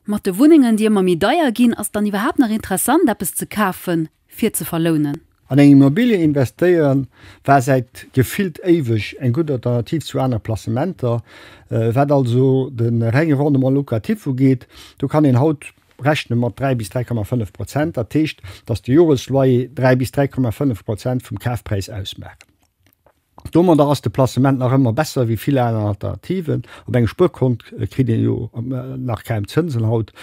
Mat de Wunnengen, déi ëmmer méi deier ginn, ass et dann iwwerhaapt nach interessant, eppes ze kafen, fir ze verlounen? An eng Immobilie investéieren, war säit gefillt éiweg eng gutt Alternativ zu aner Placementer. Wat also de renge Rendement locatif ugeet, do kann een haut rechne mat 3 bis 3,5 Prozent. Dat heescht, datt de Joresloyer 3 bis 3,5 Prozent vum Kafpräis ausmaachen. Domadder ass de Placement nach ëmmer besser wéi vill aner Alternativen. Op engem Spuerkont kritt een jo nach kaum Zënsen haut.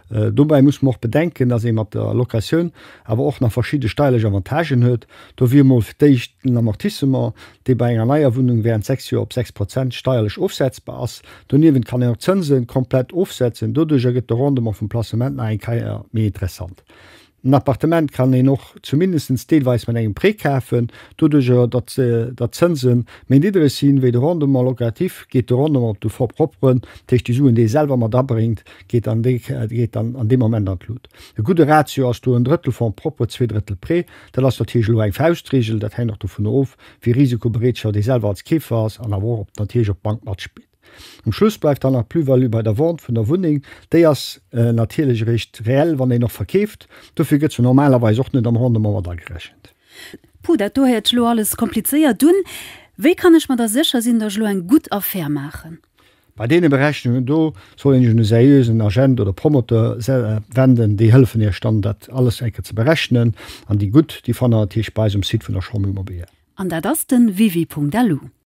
Dobäi muss mer och bedenken, dass ee mat der Locatioun awer och nach verschidde steierlech Avantagen huet. Do wier mol fir d'éischt den Amortissement, dee bei enger neier Wunnung während 6 Joer op 6 Prozent steierlech ofsetzbar ass. Doniewent kann een och d'Zënsen komplett ofsetzen. Doduercher gëtt de Rendement vum Placement nach eng Keier méi interessant. En Appartement kann een och zumindest deelweis mat engem Prêt kafen. Doduerjer, datt d'Zënse méi niddereg sinn, wéi de Rendement locatif, geet de Rendement op de Fonds propre run. Dat heescht, déi Suen, déi ee selwer mat abréngt, geet dann an deem Moment an d'Lut. E gudde Ratio ass do en Drëttel Fonds propre, zwee Drëttel Prêt. Dat ass natierlech elo eng Fauschtregel. Dat hänkt och dovunner of, wéi risikobereetschaft ee selwer als Keefer ass an awer och natierlech, ob d'Bank matspillt. Um Schluss bleift dann nach d'Plus-value bei der Vente vun der Wunneng. Déi ass natierlech eréischt reell, wann een och verkeeft. Dofir gëtt se normalerweis och net am Rendement mat agerechent. Puh, dat do héiert sech elo alles komplizéiert un. Wéi kann ech mer da sécher sinn, datt ech elo eng gutt Affär maachen? Bei deene Berechnungen do soll een sech un e seriösen Agent oder Promoteur wenden. Déi hëllefen iech dann, dat alles eng Kéier ze berechnen. An déi gutt, déi fannt der natierlech bei eis um Site vun der Chambre Immobilière. An dat ass den www.alu.